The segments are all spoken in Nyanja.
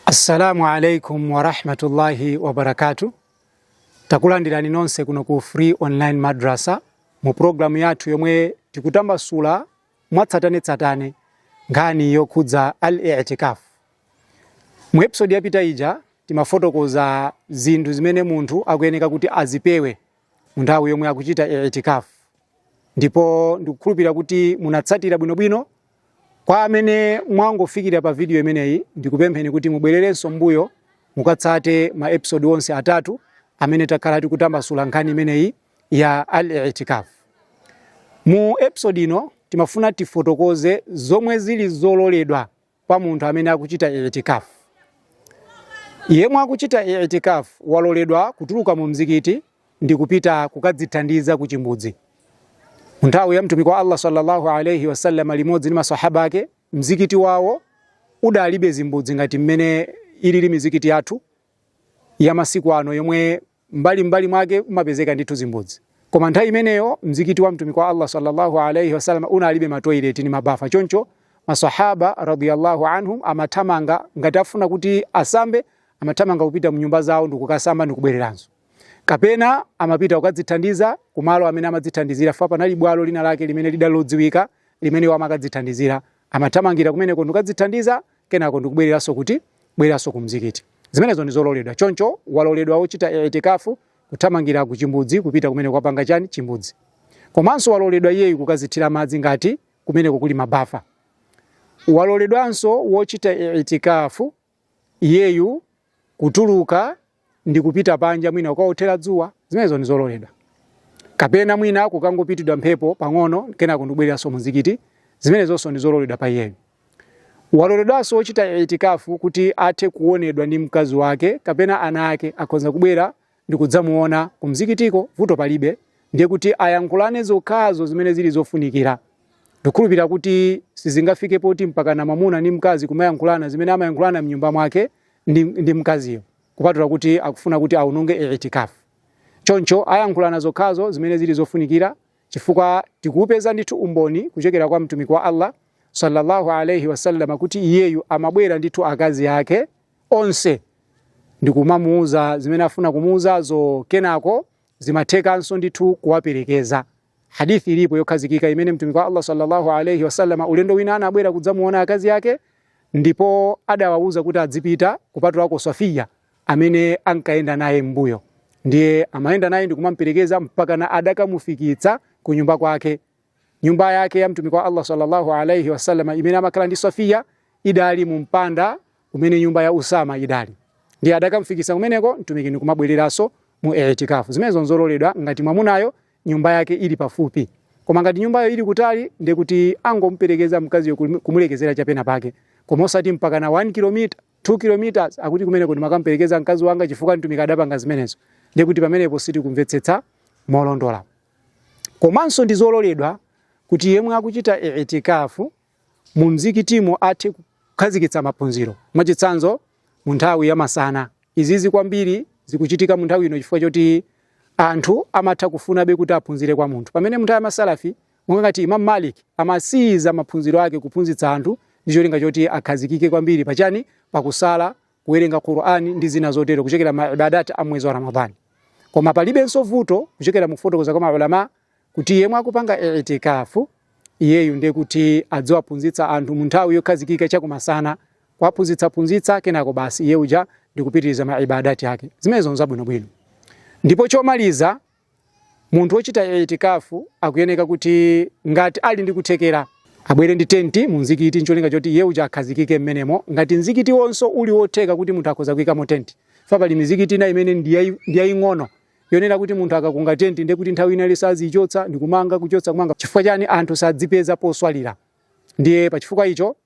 Assalamu alaikum warahmatullahi wabarakatu. Takulandirani nonse kuno ku Free Online Madrasa mu programu yathu yomwe tikutambasula mwatsatanetsatane nkhani yokhudza al-i'tikaf. Mu episode yapita ija timafotokoza zinthu zimene munthu akuyeneka kuti azipewe mu nthawi yomwe akuchita i'tikaf, ndipo ndikukhulupirira kuti munatsatira bwinobwino Kwa amene mwangofikira pa video imeneyi, ndikupempheni kuti mubwererenso m'mbuyo mukatsate ma episode onse atatu amene takhala tikutambasula nkhani imeneyi ya al-i'tikaf. Mu episode ino timafuna tifotokoze zomwe zili zololedwa pa munthu amene akuchita i'tikaf. Yemwe akuchita i'tikaf waloledwa kutuluka mu mzikiti ndi kupita kukadzithandiza ku chimbudzi. Nthawi ya mtumiki wa Allah sallallahu alaihi wasallam limodzi ndi masahaba ake, mzikiti wawo udalibe zimbudzi ngati mmene ilili mizikiti yathu ya masiku ano yomwe mbali mbali mwake umapezeka ndithu zimbudzi. Koma nthawi imeneyo mzikiti wa mtumiki wa Allah sallallahu alaihi wasallam unalibe matoileti ni mabafa, choncho masahaba radhiyallahu anhum amathamanga ngati afuna kuti asambe, amathamanga kupita mnyumba zawo ndikukasamba ndikubwereranso. kapena amapita kukadzithandiza kumalo amene amadzithandizira chifukwa panali bwalo lina lake limene lidalodziwika limene iwo amakadzithandizira amathamangira kumeneko ndikukadzithandiza kenako ndikubwereranso kuti bwereranso ku mzikiti zimenezo ndi zololedwa choncho waloledwa wochita itikafu kuthamangira ku chimbudzi kupita kumene kwapanga chani chimbudzi komanso waloledwa iyeyu kukazithira madzi ngati kumeneko kuli mabafa waloledwanso wochita itikafu iyeyu kutuluka ndi kupita panja mwina kukaothera dzuwa zimenezo ndi zololedwa kapena mwina kukangopitidwa mphepo pang'ono kenako ndikubwereranso muzikiti zimenezonso ndi zololedwa pa iyeyu waloledwanso wochita itikafu kuti athe kuonedwa ndi mkazi wake kapena ana ake akhoza kubwera ndikudzamuona kumzikitiko vuto palibe ndiye kuti ayankhulane zokhazo zimene zili zofunikira ndikhulupirira kuti sizingafike poti mpakana mwamuna ndi mkazi kumayankhulana zimene amayankhulana mnyumba mwake ndi, ndi mkaziyo kupatula kuti akufuna kuti aononge itikafu choncho ayankhulana zokhazo zimene zili zofunikira chifukwa tikupeza ndithu umboni kuchokera kwa mtumiki wa allah sallallahu alaihi wasallama kuti iyeyu amabwera ndithu akazi ake onse ndi kumamuuza zimene afuna kumuuzazo kenako zimathekanso ndithu kuwaperekeza hadithi ilipo yokhazikika imene mtumiki wa Allah sallallahu alayhi wasallam ulendo wina anabwera kudzamuona akazi yake ndipo adawauza kuti adzipita kupatulako Safiya amene ankayenda naye m'mbuyo ndiye amayenda naye ndi kumamperekeza mpaka na adakamufikitsa ku nyumba kwake nyumba yake ya mtumiki wa Allah sallallahu alayhi wasallam imene amakhala ndi Safiya idali mu mpanda umene nyumba ya Usama idali ndiye adakamfikisa kumeneko mtumiki ndi kumabwereranso mu i'tikafu zimenezo nzololedwa ngati mwamunayo nyumba yake ili pafupi koma ngati nyumbayo ili kutali ndiye kuti angomperekeza mkaziyo kumulekezera chapena pake koma osati mpaka na 1 km 2 km akuti kumeneko ndimakamperekeza mkazi wanga chifukwa mtumiki adapanga zimenezo ndiye kuti pamenepo sitikumvetsetsa molondola Komanso ndi zololedwa kuti yemwe akuchita I'tikaaf mu mzikitimo athe kukhazikitsa maphunziro, mwachitsanzo mu nthawi ya masana. Izizi kwambiri zikuchitika mu nthawi ino chifukwa choti anthu amatha kufunabe kuti aphunzire kwa munthu. Pamene mu nthawi ya ma Salafi, monga ngati Imam Malik, amasiyiza maphunziro ake kuphunzitsa anthu ndi cholinga choti akhazikike kwambiri pachani? Pakusala kuwerenga Qur'ani ndi zina zotero kuchokera ma ibadat a mwezi wa Ramadhani. Koma palibenso vuto kuchokera mukufotokoza kwa maulama kuti yemwe akupanga i'tikafu iyeyu ndi kuti adziwaphunzitsa anthu mu nthawi yokhazikika chakumasana kuwaphunzitsa phunzitsa kenako basi iye uja ndikupitiriza ma ibadati ake zimenezo nzabwinobwino. Ndipo chomaliza Munthu ochita I'tikaaf akuyeneka kuti ngati ali ndi kuthekera, abwere ndi tenti mu mzikiti ncholinga choti iye uja akhazikike m'menemo, ngati mzikitiwonso uli wotheka kuti munthu akhoza kuikamo tenti, chifukwa pali mizikiti ina imene ndi yaing'ono yonena kuti munthu akakunga tenti ndiye kuti nthawi ina iliyonse aziichotsa ndikumanga, kuchotsa kumanga, chifukwa chani? Anthu sazipeza poswalira, ndiye pachifukwa icho.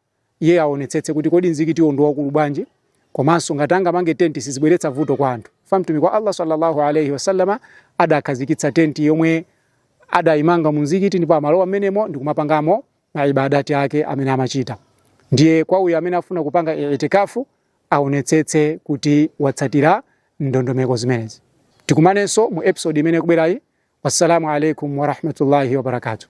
iye aonetsetse kuti kodi mzikitiwo ndi waukulu bwanji komanso ngati angamange tenti sizibweretsa vuto kwa anthu fa mtumiki wa allah sallallahu alaihi wasallama adakhazikitsa tenti yomwe adayimanga mu mzikiti ndipo amalowa mmenemo ndi kumapangamo maibadati ake amene amachita ndiye kwa uyo amene afuna kupanga itikafu aonetsetse kuti watsatira ndondomeko zimenezi tikumanenso mu episode imene kubwerayi wassalamu alaikum warahmatullahi wabarakatuh